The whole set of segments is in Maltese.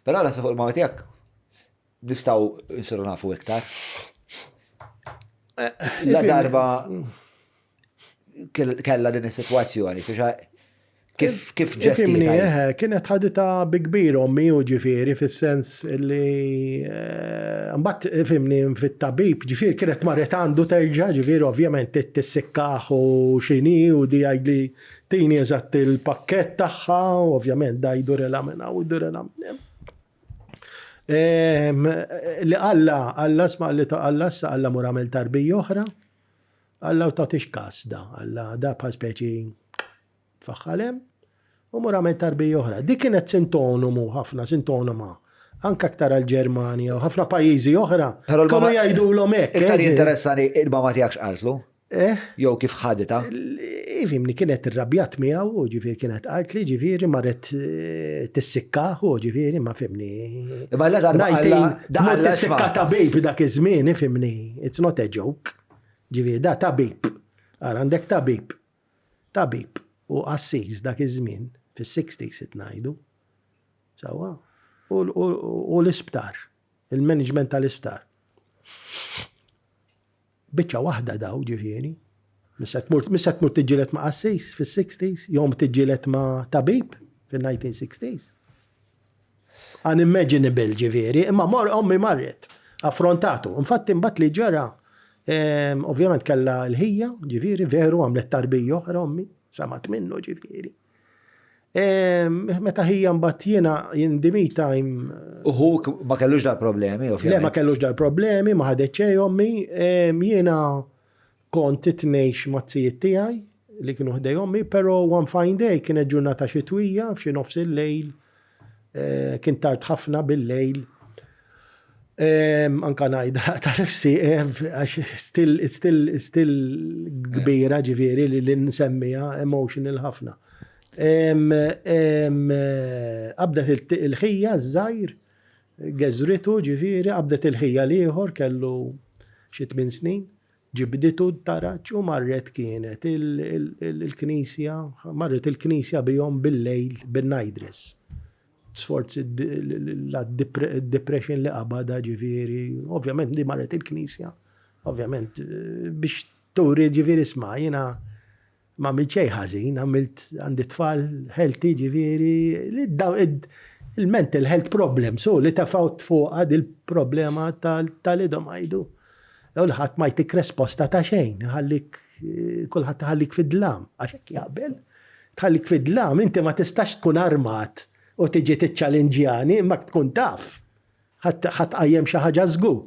Però naħseb fuq il-mama tiegħek nistgħu nsiru nafu iktar. La darba kella din is-sitwazzjoni kif kif ġestini. Eh, kienet ħadita bi kbir ommi u ġifieri fis-sens li eh, mbagħad fimni fit-tabib ġifieri kienet marret għandu terġa' ġifieri ovvjament tissikkaħ u xini u di għajli Tini eżatt il-pakket tagħha, ovvjament da jdur ela minn hawn, jdur ela minn hemm. Ehm, li Alla, Alla sma li ta' Alla sa Alla mur għamel tarbi oħra. Alla u tagħtix kas da, Alla da pa speċi tfaħħalem u mur għamel tarbi oħra. Di kienet sintonomu ħafna, sintonoma anka aktar għal-Ġermanja u ħafna pajjiżi oħra. Kienu jgħidu l-om hekk. Iktar eh, jinteressani il-mama tiegħek x'qaltlu. Eh? Jew kif ħadita? Fimni kienet irrabjat miegħu, u ġifieri kienet qalt li ġifieri marret eh, tissikkaħ, u ġifieri ma fimni. Imma la darba Daqqa tissikka tabib dak iż-żmien, fimni, it's not a joke. Ġifieri da tabib. Ara għandek tabib. Tabib u assis dak iż-żmien fis-60s it ngħidu. Sawa. U l-isptar, il-management tal-isptar. Biċċa waħda daw, ġifieri. Mhix se tmur, mhix se tmur tiġġieled ma' qassis fis-sixties, jew tiġġieled ma' tabib fin-nineteen sixties. Unimmaginable, ġifieri, imma mor ommi marret, affrontatu. Infatti imbagħad li ġara, ehm, ovvjament kellha l-ħija, ġifieri, veru għamlet tarbija oħra ommi, samat minnu, ġifieri. Meta ħija mbagħad jiena in the meantime. Uħu ma kellux dal-problemi, ovvjament. Le ma kellux dal-problemi, ma ħadet xejn ommi, jiena kont titnejx ma' tijiet tiegħi li kienu ħdej ommi, però one fine day kienet ġurnata xitwija f'xi nofs il-lejl Kien tard ħafna bil-lejl. Anka ngħidha ta' nifsi għax still kbira ġifieri li nsemmiha emotional ħafna. Qabdet il-ħija ż-żgħir, geżritu ġifieri, qabdet il-ħija l-ieħor kellu xi tmien snin. Ġibditu d-daraġġ u marret kienet il-knisja, marret il-knisja bihom bil-lejl bin-nightdress. Sforzi d-depression li qabada ġifieri, ovvjament li marret il-knisja, ovvjament biex turi ġifieri sma' jiena Ma għamilt xejn ħażin, għamilt għandi tfal healthy ġifieri il-mental health problem, so li tafawt fuqha dil-problema tal-idhom għajdu. Jew li ħadd ma jtik resposta ta' xejn, ħallik kulħadd ħallik fid-dlam, għax hekk jaqbel. Tħallik fid-dlam, inti ma tistax tkun armat u tiġi tiċċalinġjani, imma tkun taf. Ħadd qajjem xi ħaġa żgur.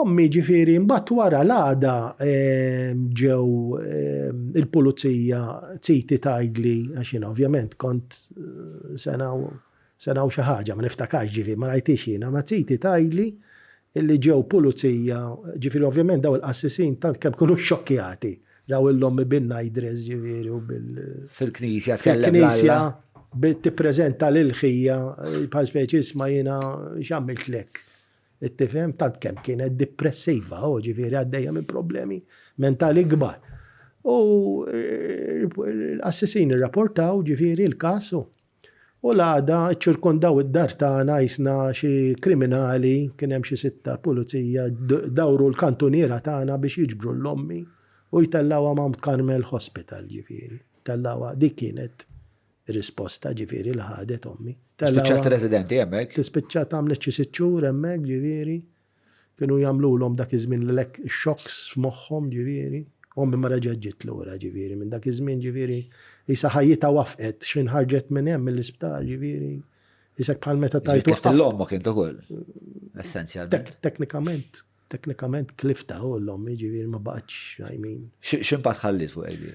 Ommi ġifieri mbagħad wara l-għada ġew il-pulizija titi tgħidli għax jiena ovvjament kont sena u xi ħaġa ma niftakarx ġifieri ma rajtix jiena ma titi tgħidli illi ġew pulizija, ġifieri ovvjament dawn il-qassisin tant kemm kienu xxokkjati, raw il-ommi bin-nightdress ġifieri u bil. Fil-knisja tkellem. Fil-knisja bdiet tippreżenta lil ħija bħal speċi isma' jiena x'għamiltlek. Tifhem tant kemm kienet depressiva, oh, ġifieri għaddejja minn problemi mentali kbar. U l-qassisin irrapportaw ġifieri l-każ u. U l-għada ċirkondaw id-dar tagħna jisna xi kriminali, kien hemm xi sitta pulizija, dawru l-kantuniera tagħna biex jiġbru l-ommi u jtellgħuha Mount Carmel Hospital ġifieri. Tellgħuha dik kienet risposta ġifieri li ħadet ommi. Spiċċat residenti hemmhekk? Tispiċċat għamlet xi sitt xhur hemmhekk ġifieri. Kienu jagħmlulhom dak iż-żmien l-elek, ix-xokks f'moħħhom, ġifieri. Ommi ma reġgħet ġiet lura, ġifieri, minn dak iż-żmien, ġifieri, qisha ħajjitha wafqet, xejn ħarġet minn hemm, mill-isptar, ġifieri. Qisek bħal meta tajt Ġiet tlift l-ommok int ukoll, essenzjalment. Tek- Teknikament, teknikament tliftha u l-ommi, ġifieri, ma baqgħetx, I mean. Xi- X'impatt ħalliet fuq Egli?